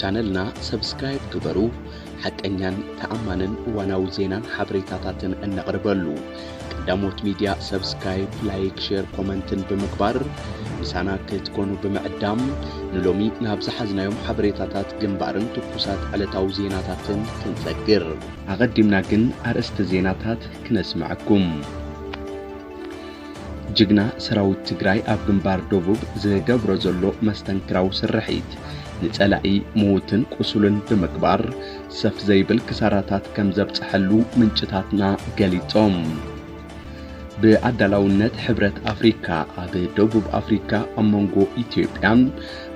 ቻነልና ሰብስክራይብ ግበሩ። ሓቀኛን ተኣማንን እዋናዊ ዜናን ሓበሬታታትን እነቕርበሉ ቀዳሞት ሚድያ ሰብስክራይብ፣ ላይክ፣ ሼር፣ ኮመንትን ብምግባር ምሳና ክትኮኑ ብምዕዳም ንሎሚ ናብ ዝሓዝናዮም ሓበሬታታት ግንባርን ትኩሳት ዕለታዊ ዜናታትን ክንሰግር ኣቐዲምና ግን ኣርእስቲ ዜናታት ክነስምዐኩም። ጅግና ሰራዊት ትግራይ ኣብ ግንባር ደቡብ ዝገብሮ ዘሎ መስተንክራዊ ስርሒት ንጸላኢ ምዉትን ቁሱልን ብምግባር ሰፍ ዘይብል ክሳራታት ከም ዘብጽሐሉ ምንጭታትና ገሊጾም። ብኣዳላውነት ሕብረት ኣፍሪካ ኣብ ደቡብ ኣፍሪካ ኣብ መንጎ ኢትዮጵያን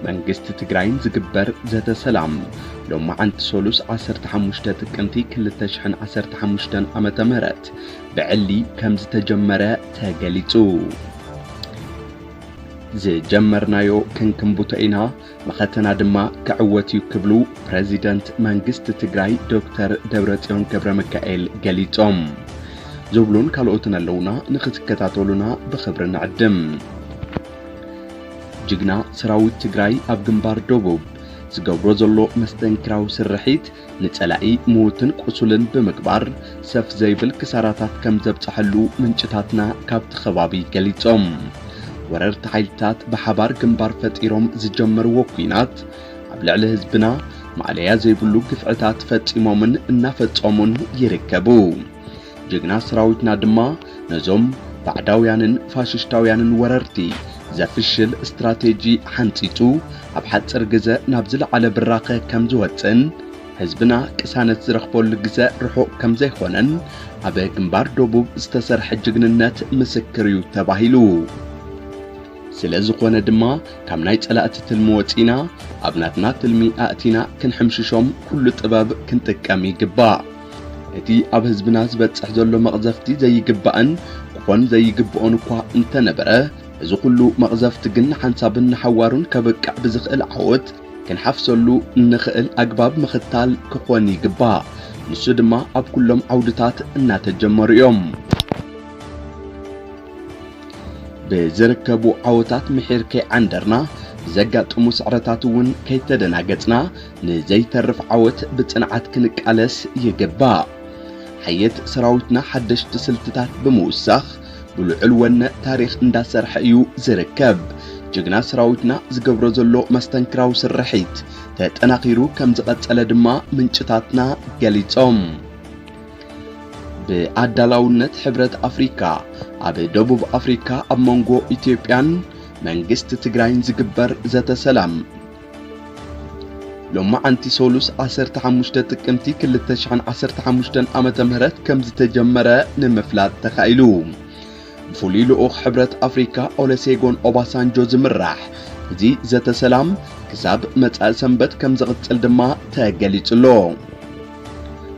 መንግስቲ ትግራይን ዝግበር ዘተ ሰላም ሎማዓንቲ ሰሉስ 15 ጥቅምቲ 2015 ዓ ም ብዕሊ ከምዝተጀመረ ተገሊጹ። ዝጀመርናዮ ክንክንቡቶ ኢና መኸተና ድማ ክዕወት እዩ ክብሉ ፕረዚደንት መንግስቲ ትግራይ ዶክተር ደብረጽዮን ገብረ ሚካኤል ገሊጾም። ዝብሉን ካልኦትን ኣለውና ንኽትከታተሉና ብኽብሪ ንዕድም። ጅግና ሰራዊት ትግራይ ኣብ ግንባር ደቡብ ዝገብሮ ዘሎ መስተንክራዊ ስርሒት ንጸላኢ ምዉትን ቁሱልን ብምግባር ሰፍ ዘይብል ክሳራታት ከም ዘብጸሐሉ ምንጭታትና ካብቲ ከባቢ ገሊጾም። ወረርቲ ሓይልታት ብሓባር ግንባር ፈጢሮም ዝጀመርዎ ኲናት ኣብ ልዕሊ ህዝብና ማእለያ ዘይብሉ ግፍዕታት ፈጺሞምን እናፈጸሙን ይርከቡ። ጅግና ሰራዊትና ድማ ነዞም ባዕዳውያንን ፋሽሽታውያንን ወረርቲ ዘፍሽል ስትራቴጂ ሓንጺጹ ኣብ ሓጽር ግዘ ናብ ዝለዓለ ብራኸ ከም ዝወጽእን ህዝብና ቅሳነት ዝረኽበሉ ግዘ ርሑቕ ከም ዘይኾነን ኣብ ግንባር ደቡብ ዝተሰርሐ ጅግንነት ምስክር እዩ ተባሂሉ። ስለ ዝኾነ ድማ ካብ ናይ ጸላእቲ ትልሚ ወጺና ኣብ ናትና ትልሚ ኣእቲና ክንሕምሽሾም ኩሉ ጥበብ ክንጥቀም ይግባእ። እቲ ኣብ ህዝብና ዝበጽሕ ዘሎ መቕዘፍቲ ዘይግባእን ክኾን ዘይግብኦን እኳ እንተነበረ እዚ ኩሉ መቕዘፍቲ ግን ንሓንሳብን ንሓዋሩን ከብቅዕ ብዝኽእል ዓወት ክንሓፍሰሉ እንኽእል ኣግባብ ምኽታል ክኾን ይግባእ። ንሱ ድማ ኣብ ኩሎም ዓውድታት እናተጀመሩ እዮም። ብዝርከቡ ዓወታት ምሒር ከይዓንደርና ብዘጋጥሙ ስዕረታት እውን ከይተደናገጽና ንዘይተርፍ ዓወት ብጽንዓት ክንቃለስ ይግባእ። ሓየት ሰራዊትና ሓደሽቲ ስልትታት ብምውሳኽ ብልዑል ወነ ታሪኽ እንዳሰርሐ እዩ ዝርከብ። ጅግና ሰራዊትና ዝገብሮ ዘሎ መስተንክራዊ ስርሒት ተጠናኺሩ ከም ዝቐጸለ ድማ ምንጭታትና ገሊጾም። ብኣዳላውነት ሕብረት ኣፍሪካ ኣብ ደቡብ ኣፍሪካ ኣብ መንጎ ኢትዮጵያን መንግስቲ ትግራይን ዝግበር ዘተ ሰላም ሎማዓንቲ ሰሉስ ዓሰርተ ሓሙሽተ ጥቅምቲ ክልተ ሽሕን ዓሰርተ ሓሙሽተን ዓመተ ምህረት ከም ዝተጀመረ ንምፍላጥ ተኻኢሉ። ብፍሉይ ልኡኽ ሕብረት ኣፍሪካ ኦለሴጎን ኦባሳንጆ ዝምራሕ እዚ ዘተ ሰላም ክሳብ መጻኢ ሰንበት ከም ዝቕጽል ድማ ተገሊጹ ኣሎ።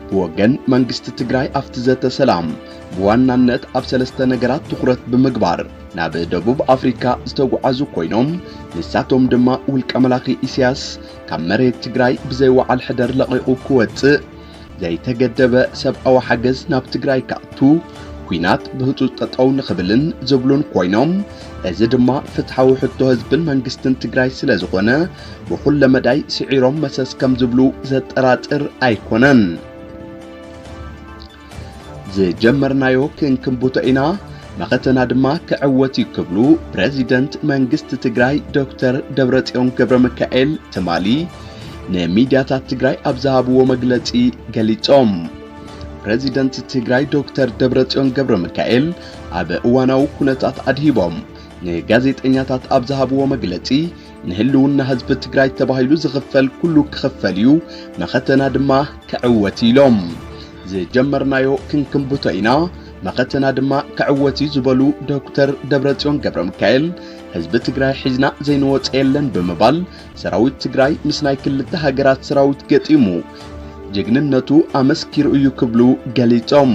ብወገን መንግስቲ ትግራይ ኣብቲ ዘተ ሰላም ብዋናነት ኣብ ሰለስተ ነገራት ትኹረት ብምግባር ናብ ደቡብ ኣፍሪካ ዝተጓዓዙ ኮይኖም ንሳቶም ድማ ውልቀ መላኺ ኢሳያስ ካብ መሬት ትግራይ ብዘይ ወዓል ሕደር ለቒቑ ክወፅእ፣ ዘይተገደበ ሰብኣዊ ሓገዝ ናብ ትግራይ ክኣቱ፣ ኩናት ብህፁፅ ጠጠው ንኽብልን ዝብሉን ኮይኖም እዚ ድማ ፍትሓዊ ሕቶ ህዝብን መንግስትን ትግራይ ስለዝኾነ ብኹለ መዳይ ስዒሮም መሰስ ከምዝብሉ ዘጠራጥር ኣይኮነን። ዝጀመርናዮ ክንክንቡቶ ኢና መኸተና ድማ ክዕወት እዩ ክብሉ ፕረዚደንት መንግስቲ ትግራይ ዶክተር ደብረጽዮን ገብረ ሚካኤል ትማሊ ንሚድያታት ትግራይ ኣብ ዝሃብዎ መግለጺ ገሊጾም። ፕረዚደንት ትግራይ ዶክተር ደብረጽዮን ገብረ ሚካኤል ኣብ እዋናዊ ኩነታት ኣድሂቦም ንጋዜጠኛታት ኣብ ዝሃብዎ መግለጺ ንህልውና ህዝቢ ትግራይ ተባሂሉ ዝኽፈል ኩሉ ክኽፈል እዩ፣ መኸተና ድማ ክዕወት እዩ ኢሎም። ዝጀመርናዮ ክንክንብቶ ኢና፣ መኸተና ድማ ክዕወት እዩ ዝበሉ ዶክተር ደብረጽዮን ገብረ ሚካኤል ህዝቢ ትግራይ ሒዝና ዘይንወፀ የለን ብምባል ሰራዊት ትግራይ ምስ ናይ ክልተ ሃገራት ሰራዊት ገጢሙ ጀግንነቱ ኣመስኪሩ እዩ ክብሉ ገሊጾም።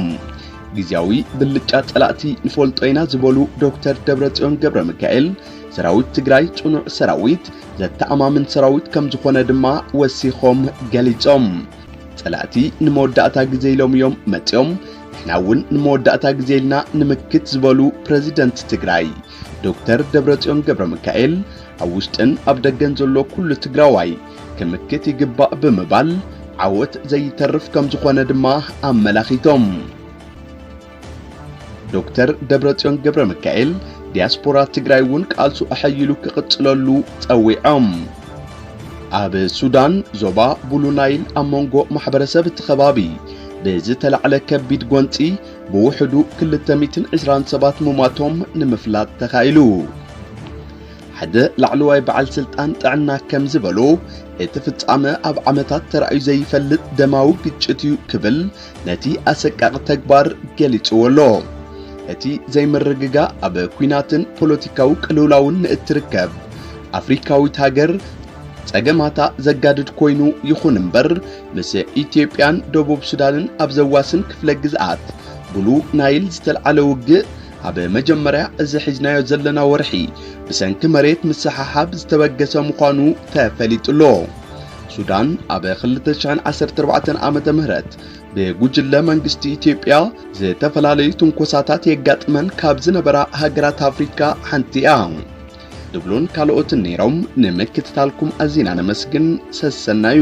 ግዜያዊ ብልጫ ጸላእቲ ንፈልጦ ኢና ዝበሉ ዶክተር ደብረጽዮን ገብረ ሚካኤል ሰራዊት ትግራይ ጽኑዕ ሰራዊት፣ ዘተኣማምን ሰራዊት ከም ዝኾነ ድማ ወሲኾም ገሊጾም። ጸላእቲ ንመወዳእታ ግዜ ኢሎም እዮም መጺኦም፣ ንሕና እውን ንመወዳእታ ግዜ ኢልና ንምክት ዝበሉ ፕረዚደንት ትግራይ ዶክተር ደብረጽዮን ገብረ ሚካኤል ኣብ ውሽጥን ኣብ ደገን ዘሎ ኩሉ ትግራዋይ ክምክት ይግባእ ብምባል ዓወት ዘይተርፍ ከም ዝኾነ ድማ ኣመላኺቶም። ዶክተር ደብረጽዮን ገብረ ሚካኤል ዲያስፖራ ትግራይ እውን ቃልሱ ኣሐይሉ ክቕጽለሉ ጸዊዖም። ኣብ ሱዳን ዞባ ቡሉ ናይል ኣብ መንጎ ማሕበረሰብ እቲ ከባቢ ብዝተላዕለ ከቢድ ጎንፂ ብውሕዱ 220 ሰባት ምሟቶም ንምፍላጥ ተኻኢሉ። ሓደ ላዕለዋይ በዓል ስልጣን ጥዕና ከም ዝበሎ እቲ ፍጻመ ኣብ ዓመታት ተራእዩ ዘይፈልጥ ደማዊ ግጭት እዩ ክብል ነቲ ኣሰቃቂ ተግባር ገሊጽዎ ኣሎ። እቲ ዘይምርግጋእ ኣብ ኩናትን ፖለቲካዊ ቅልውላውን ንእትርከብ ኣፍሪካዊት ሃገር ጸገማታ ዘጋድድ ኮይኑ ይኹን እምበር ምስ ኢትዮጵያን ደቡብ ሱዳንን ኣብ ዘዋስን ክፍለ ግዝኣት ብሉ ናይል ዝተልዓለ ውግእ ኣብ መጀመርያ እዚ ሒዝናዮ ዘለና ወርሒ ብሰንኪ መሬት ምስሓሓብ ዝተበገሰ ምዃኑ ተፈሊጡሎ። ሱዳን ኣብ ክልተ ሽሕን ዓሰርተ ኣርባዕተን ዓመተ ምህረት ብጉጅለ መንግስቲ ኢትዮጵያ ዝተፈላለዩ ትንኮሳታት የጋጥመን ካብ ዝነበራ ሃገራት ኣፍሪካ ሓንቲ እያ። ድብሉን ካልኦትን ነይሮም። ንምክትታልኩም ኣዚና ነመስግን። ሰሰናዩ